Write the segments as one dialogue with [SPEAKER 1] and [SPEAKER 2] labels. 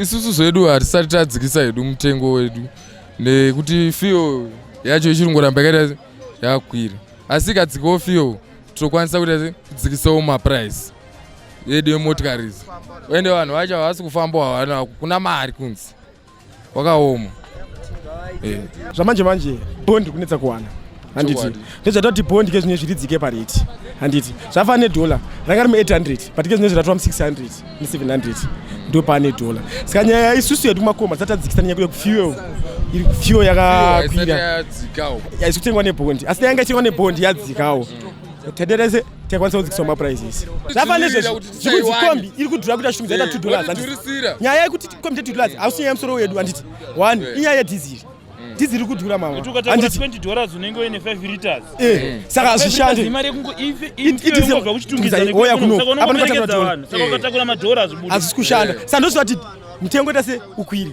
[SPEAKER 1] isusu zvedu hatisati tadzikisa hedu mutengo wedu nekuti fio yacho ichirungoramba yakaita yakwira asi ikadzikawo fio tinokwanisa kuita kudzikisawo maprice yedu yemotikari izi ende vanhu vacho havasi kufambawo havana kuna mari kunzi wakaoma eh.
[SPEAKER 2] zvamanje manje bond kunetsa kuwana handiti ndozvaita kuti bond ke zvinezvi ridzike parate handiti zvafa nedhola ranga rime 800 but ke zvinezvi ratova mu600 mu700 ndo pane dhola saka nyaya isusu yedu kumakoma dzatadzikisa nyaya kuda kufuel iri kufuel yakakwira yaisi kutengwa nebondi asi yanga ichitengwa nebondi yadzikawo tadera tikwanisa kudzikisa maprices zvafanira izvozvo zvekunzi kombi iri kudhura kuti achitumidza ita two dollars nyaya yekuti kombi ita two dollars hausi nyaya yemusoro wedu handiti one inyaya yedhiziri dhizi riri kudhura
[SPEAKER 3] maandisaka
[SPEAKER 2] hazvishandeoya
[SPEAKER 3] kunoapaaaazvisi kushanda saka ndozvivati
[SPEAKER 2] mutengo ita se ukwiri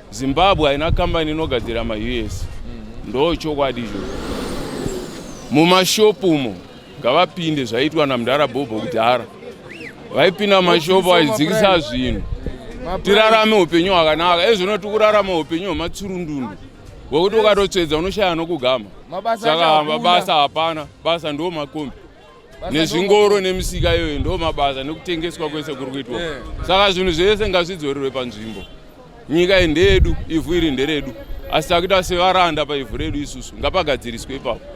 [SPEAKER 4] Zimbabwe haina kambani inogadzira ma US. Mhm. Ndo chokwadi izvo. Mumashopu umo ngavapinde zvaitwa namdara Bobo kudhara. Vaipinda mashopu vaidzikisa zvinhu. Tirarame upenyu hwakanaka. Ezvino tikurarama upenyu hwematsurundundu. Wekuti ukatotsvedza unoshaya nokugama. Saka mabasa hapana. Basa ndo makombi. nezvingoro nemisika iyoyo ndo mabasa nekutengeswa kwese kuri kuitwa saka zvinhu zvese ngazvidzorerwe panzvimbo nyika iyi ndeyedu ivhu iri nderedu asi takuita sevaranda paivhu redu isusu ngapagadziriswe ipapo